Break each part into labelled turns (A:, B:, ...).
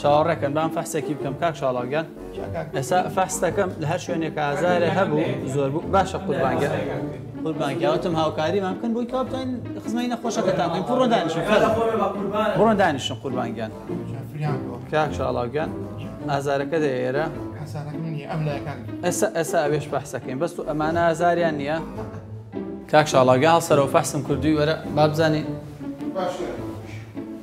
A: چاوەڕێکەن بام فەحسێکی بکەم کاک شاڵاگیان ئێستا فەحستەکەم لە هەر شوێنێک ئازارە هەبوو زۆر بوو باشە قوربانگە قوربانگیاوتم هاوکاریمان بکەن بۆی کاپتین خزمەی نەخۆشەکەتان بکەین پڕۆ دانیشن بڕۆن دانیشن قوربانگیان کاک شاڵاگیان ئازارەکە دە ئێرە
B: ئەسا ئەسا ئەوێش بەحسەکەین
A: بەست و ئەمانە ئازاریان نییە کاک شاڵاگە هەڵسەرەوە فەحسم کردووی وەرە بابزانین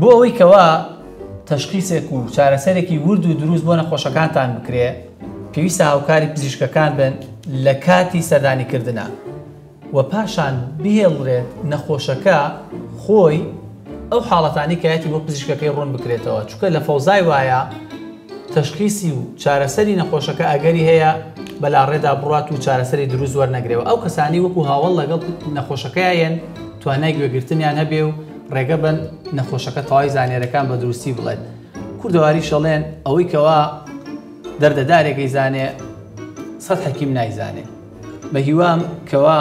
A: بۆ ئەوەی کەوا تەشخیسێک و چارەسەرێکی ورد و دروست بۆ نەخۆشەکانتان بکرێ پێویستە هاوکاری پزیشکەکان بن لە کاتی سەردانیکردنا و پاشان بهێڵرێت نەخۆشەکە خۆی ئەو حاڵەتانی کەایەتی بۆ پزیشکەکەی ڕوون بکرێتەوە چکە لە فەوزای وایە تەشخیسی و چارەسەری نەخۆشەکە ئەگەری هەیە بەلاڕێدا بڕوات و چارەسەری دروست وەرنەگرێ و ئەو کەسانەی وەکو هاوەڵ لەگەڵ نەخۆشەکەیا یەن توانای گوێگرتنیان هەبێ و ڕێگە بەن نەخۆشەکە تەواوی زانیارەکان بە دروستی بڵێت کوردەواریش ئەڵێن ئەوەی کەوا دەردەدارێکی زانێ سەد حەکیم نایزانێ بە هیوام کەوا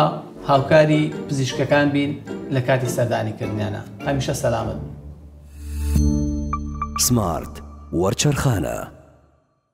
A: هاوکاری پزیشکەکان بین لە کاتی سەردانی کردنیانە هەمیشە سەلامت بن سمارت
C: وەرچەرخانە.